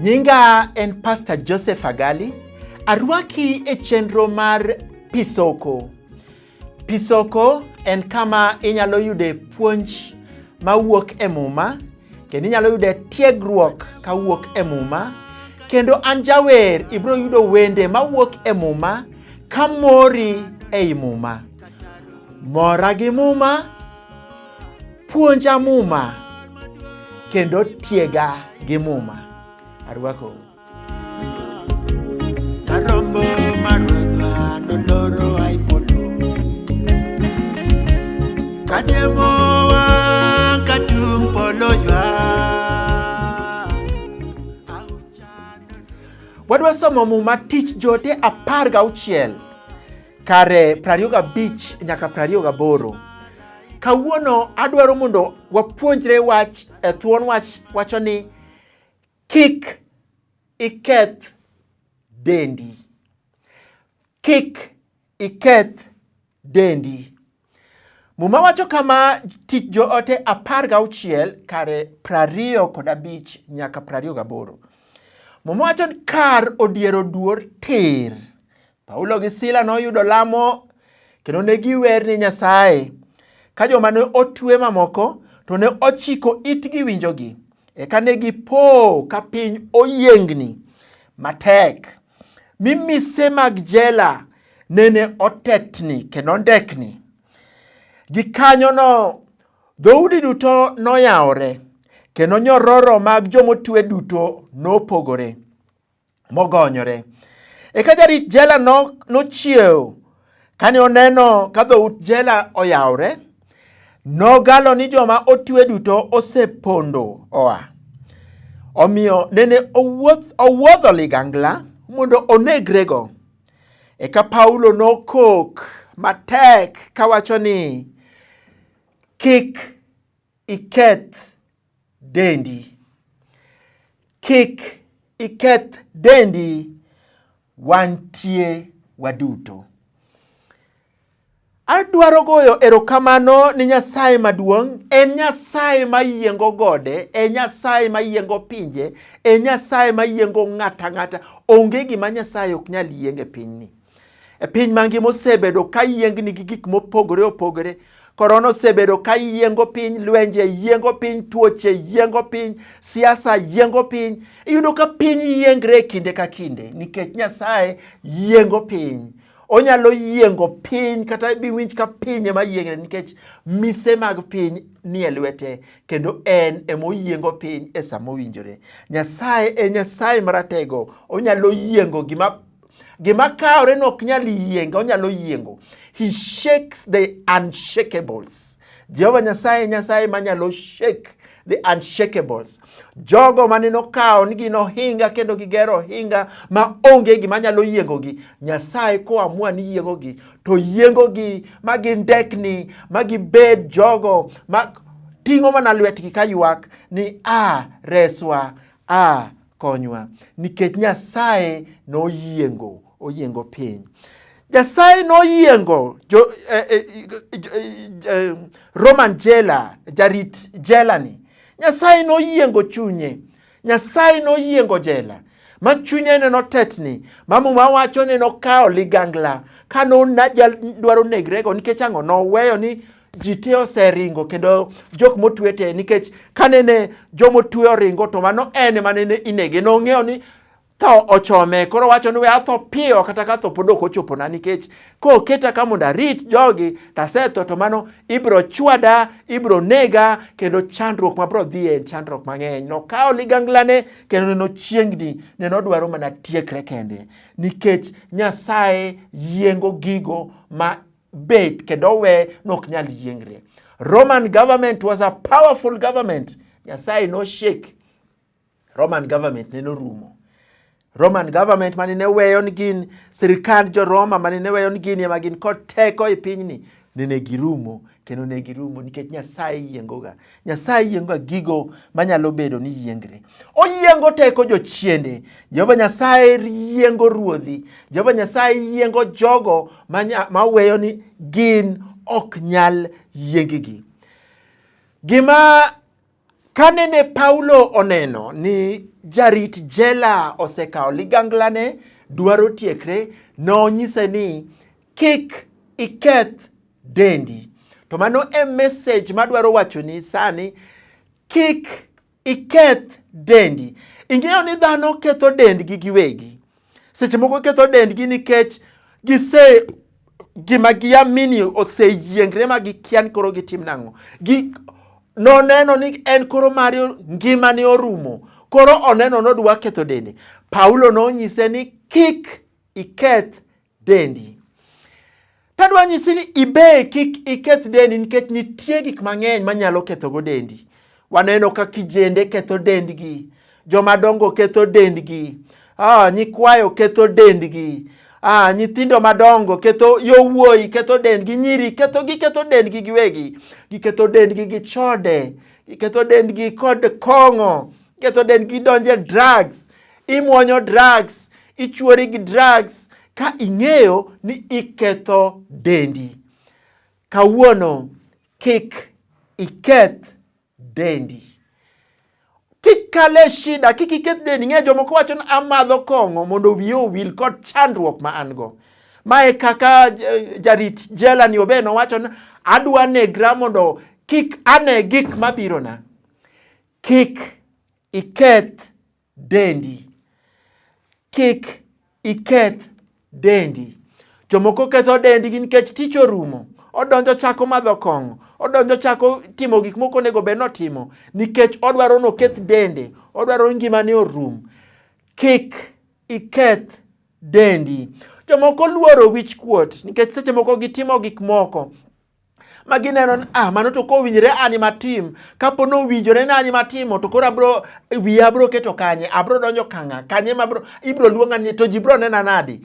Nyinga en Pastor Joseph Agali. Arwaki e chenro mar Pisoko. Pisoko en kama inyalo yude puonj mawuok e Muma kendo inyalo yude tiegruok kawuok e Muma kendo an jawer ibiro yudo wende mawuok e Muma ka mori ei Muma. Mora gi Muma, puonja Muma kendo tiega gi Muma. Arwakou. Wadwa somo muma tich jote apar ga auchiel kare prariyo ga bich nyaka prariyo ga boro. Kawuono adwaro mondo wapuonjre wach e thuon wach wacho ni Kik iketh dendi. Kik iketh dendi. Muma wacho kama tich joote apar gauchiel kare prariyo kod abich nyaka prariyo gaboro. Muma wacho ni kar odiero duor tir Paulo gi Sila noyudo lamo kendo ne giwer ni Nyasaye. Ka joma ne otwe mamoko to ne ochiko itgi winjogi. Eka ne gipo ka piny oyiengni matek. Mi mise mag jela nene otetni kendo ndekni. Gikanyono dhoudi duto noyawore kendo nyororo mag jomotwe duto nopogore. mogonyore. Eka jarit jela nochiew kane oneno ka dhout jela oyawre, nogalo ni joma otwe duto osepondo oa. Omiyo nene owuodho ligangla mondo onegrego. Eka Paulo nokok matek kawacho ni kik iketh dendi. Kik iketh dendi, wantie waduto. Adwaro goyo erokamano ni Nyasaye maduong', en Nyasaye mayiengo gode, en Nyasaye mayiengo pinje, en Nyasaye mayiengo ng'ata ng'ata. Onge gima Nyasaye ok nyal yienge pinyni. E piny mangima osebedo ka yiengni gi gik mopogore opogore. Korona osebedo ka yiengo piny, lwenje yiengo piny, tuoche yiengo piny, siasa yiengo piny. Iyudo ka piny yiengre kinde ka kinde nikech Nyasaye yiengo piny. Onyalo yiengo piny kata biwinj ka piny ema yiengre nikech mise mag piny nie lwete kendo en emoyiengo piny e sama owinjore. Nyasaye e Nyasaye maratego, onyalo yiengo gima Gima kawre no ok nyal yienge, onyalo yiengo. He shakes the unshakables. Jehova Nyasaye Nyasaye manyalo shake the unshakables. Jogo mane nokawo ni gin ohinga kendo gigero ohinga ma onge gima nyalo yiengogi. Nyasaye koamua ni yiengogi to yiengogi ma gindekni ma gibed jogo ma ting'o mana lwetgi ka ywak ni a ah, reswa a ah, Konywa nikech Nyasaye noyiengo oyiengo piny. Nyasaye noyiengo jo, eh, eh, eh, eh, Roman jela jarit jela ni. Nyasaye noyiengo chunye. Nyasaye noyiengo jela ma chunye ne notetni ma muma wacho ne nokawo ligangla ka nodwaro negrego nikech ang'o noweyo ni ji te oseringo kendo jok motwe te nikech kanene jomotwe oringo to mano en ema nene inege nong'eyo ni tho ochome koro wacho ni we atho piyo kata ka tho pod ok ochopona nikech koketa ka mondo arit jogi tasetho to mano ibiro chwada ibiro nega kendo chandruok mabiro dhiye en chandruok mang'eny nokawo liganglane kendo neno chiengni neno dwaro mana tiekre kende nikech nyasaye yiengo gigo ma bet kendo we nok nyal yiengre. Roman government was a powerful government. Nyasaye no shake. Roman government ne norumo. Roman government mane ne weyo ni gin sirkand jo Roma mane ne weyo ni gin ema gin kod teko e pinyni nene girumo kendo ne girumo nikech Nyasaye yiengoga. Nyasaye yiengoga gigo manyalo bedo ni yiengre. Oyiengo teko jochiende. Jehova Nyasaye yiengo ruodhi. Jehova Nyasaye yiengo jogo maweyo ni gin ok nyal yiengigi. Gima kane ne Paulo oneno ni jarit jela osekawo liganglane dwaro tiekre, nonyise ni kik iketh dendi. To mano e message madwaro wachoni sani, kik iketh dendi. Ing'eyo ni dhano ketho dendgi giwegi. Seche moko ketho dendgi nikech gise gima giamini oseyiengre ma gikia ni koro gitim nang'o. Gi, noneno ni en koro mari ngimane orumo koro oneno nodwa ketho dende paulo nonyise ni kik iketh dendi. Tadwa nyisi ni ibe kik iketh dendi nikech nitie gik mang'eny manyalo kethogo dendi. Waneno ka kijende ketho dendgi, jomadongo ketho dendgi, ah, nyikwayo ketho dendgi, ah, nyithindo madongo ketho yowuoyi ketho dendgi, nyiri ketho giketho dendgi giwegi, giketho dendgi gi chode, giketho dendgi kod kong'o, Ketho dend gi donje drugs, imwonyo drugs, ichuori gi drugs ka ing'eyo ni iketho dendi. Kawuono kik iketh dendi. Kik kale shida, kik iketh dendi. Ng'e jomoko wacho ni amadho kong'o mondo wiye owil kod chandruok ma an go. Mae kaka eh, jarit jela ni obe nowacho ni adwa negra mondo kik ane gik mabirona. Kik iketh dendi. Kik iketh dendi. Jomoko ketho dendgi nikech tich orumo. Odonjo chako madho kong'o. Odonjo chako timo gik moko onego bed notimo nikech odwaro noketh dende. Odwaro ngimane orum. Kik iketh dendi. Jomoko luoro wich kuot nikech seche moko gitimo gik moko ma gineno ni ah, mano to kowinjore ani matim kapo ni owinjore ni ani matimo to koro abro wiya abro keto kanye abro donjo kang'a kanye ma ibro luonga ni to ji bro nena nadi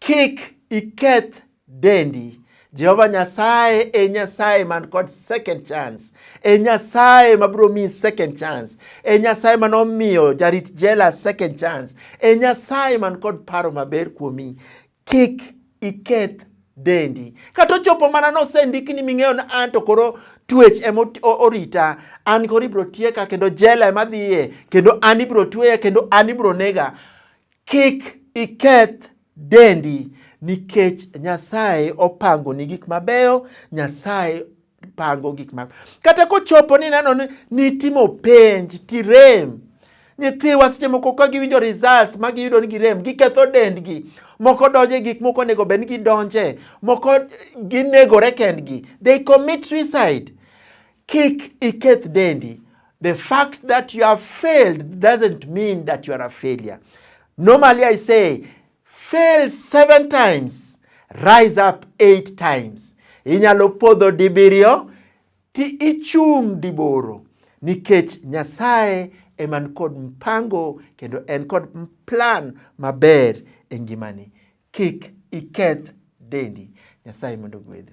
kik iketh dendi Jehova Nyasaye e Nyasaye man kod second chance, e Nyasaye mabiro miyi second chance, e Nyasaye man omiyo jarit jela second chance, e Nyasaye man kod paro maber kuomi. Kik iketh dendi. Kata ochopo mana nosendik ni ming'eyo na an to koro twech ema orita, an koro ibiro tieka kendo jela ema dhiye kendo an ibiro tweya kendo an ibiro nega. Kik iketh dendi nikech Nyasaye opangoni gik mabeyo, Nyasaye pango gik ma kata kochopo ni neno ni nitimo penj tirem nyithiwa seche moko ka giwinjo results ma giyudo ni girem giketho dendgi moko donje gik moko onego bed ni gidonje moko ginegore kendgi they commit suicide kik iketh dendi the fact that you have failed doesn't mean that you are a failure normally i say Fail seven times, rise up eight times. Inyalo podho dibiriyo ti ichung' diboro nikech Nyasaye eman kod mpango kendo en kod plan maber e ngimani. Kik iketh dendi. Nyasaye mondo ogwedhu.